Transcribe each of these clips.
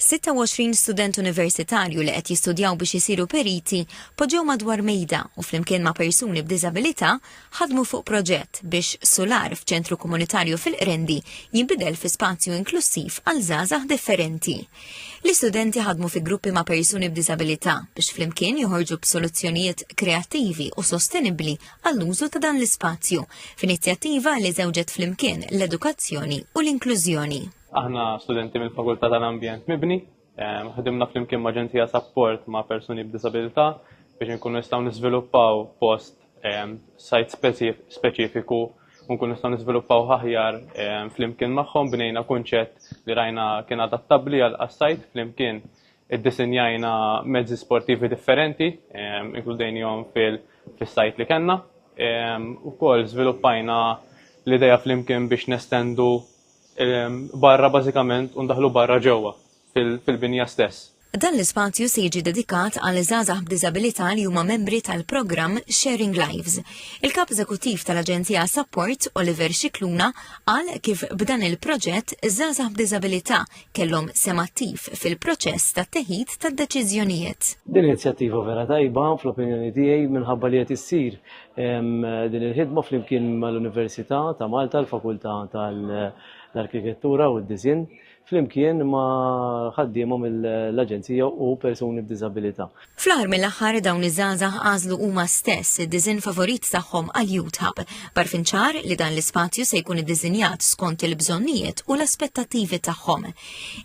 26 student universitarju li qed jistudjaw biex isiru periti poġġew madwar mejda u flimkien ma' persuni b'diżabilità ħadmu fuq proġett biex sular f'ċentru komunitarju fil-Qrendi jinbidel fi spazju inklussiv għal żgħażagħ differenti. L-istudenti ħadmu fi gruppi ma' persuni b'diżabilità biex flimkien joħorġu b'soluzzjonijiet kreattivi u sostenibbli għall-użu ta' dan l-ispazju f'inizjattiva li żewġet flimkien l-edukazzjoni u l-inklużjoni. Aħna studenti mill-Fakultà tal-Ambjent Mibni, ehm, ħdimna flimkien ma' ġenzija sapport ma' persuni b'disabilità biex nkunu nistgħu niżviluppaw post ehm, sajt speċifiku u nkunu nistgħu niżviluppaw aħjar ehm, flimkien magħhom bnejna kunċett li rajna kien adattabbli għal sajt flimkien iddisinjajna mezzi sportivi differenti, inkludejnihom fil-sajt li kellna. Ukoll żviluppajna l-ideja flimkien biex nestendu barra bażikament u ndaħlu barra ġewwa fil-binja stess. Dan l-ispazju se jiġi dedikat għal żgħażagħ b'diżabilità li huma membri tal-programm Sharing Lives. Il-Kap Eżekuttiv tal-Aġenzija Support, Oliver Xikluna, qal kif b'dan il-proġett żgħażagħ b'diżabilità kellhom semattiv fil-proċess tat-teħid tad-deċiżjonijiet. Din inizjattiva vera tajba fl-opinjoni tiegħi minħabba li qed issir Din il-ħidma flimkien mal-Università ta' Malta l-Fakultà tal-Arkitettura u d-Disinn flimkien ma' ħaddiema mill-Aġenzija u persuni b'diżabilità. Fl-aħħar mill-aħħar dawn iż-żgħażagħ għażlu huma stess id-disinn favorit tagħhom għal Youth Hub, b'għarfien ċar li dan l-ispazju se jkun iddiżinjat skont il-bżonnijiet u l-aspettattivi tagħhom.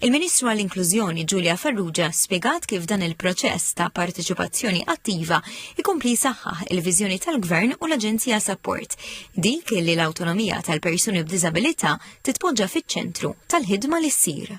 Il-Ministru għall-Inklużjoni Ġulia Farrugia spjegat kif dan il-proċess ta' parteċipazzjoni attiva ikompli saħħaħ il-viżjoni tal-Gvern u l-Aġenzija Support, dik li l-awtonomija tal-persuni b'diżabilità titpoġġa fiċ-ċentru tal-ħidma li ssir.